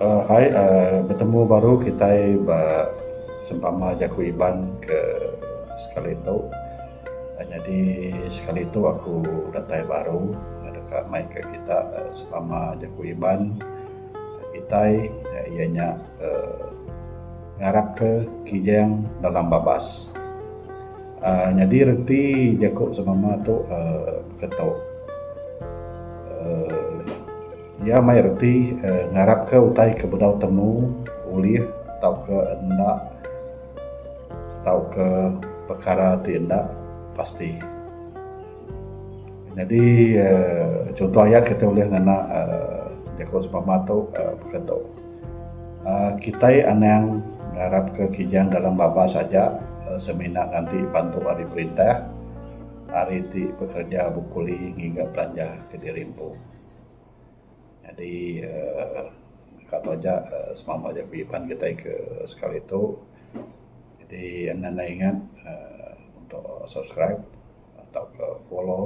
Aaa hai aaa betemu baru kitai ba sempama jaku Iban ke sekali tu aaa nyadi sekali tu aku datai baru ngah deka mai ka kita sempama jaku Iban kitai iya nya aaa ngarap ke kijang dalam babas. Aaa nyadi reti jaku semama tu aaa beketo. Aaa iya mai reti aaa ngarap ka utai ke bedau temu ulih tauka enda tauka pekara ti enda pasti. Nyadi aaa chunto aya kita ulih ngena aaa jaku semama tu aaa beketo. Kitai anang ngarapka Kijang dalam babas aja semina nganti bantu ari perintah. Ari ti pekereja bekuli ngiga belanja kediri empu. Nyadi uhh ka atu aja semama aja pengiban kitai ke sekali tu. Nyadi enda ingat uhh untuk subscribe tauka follow.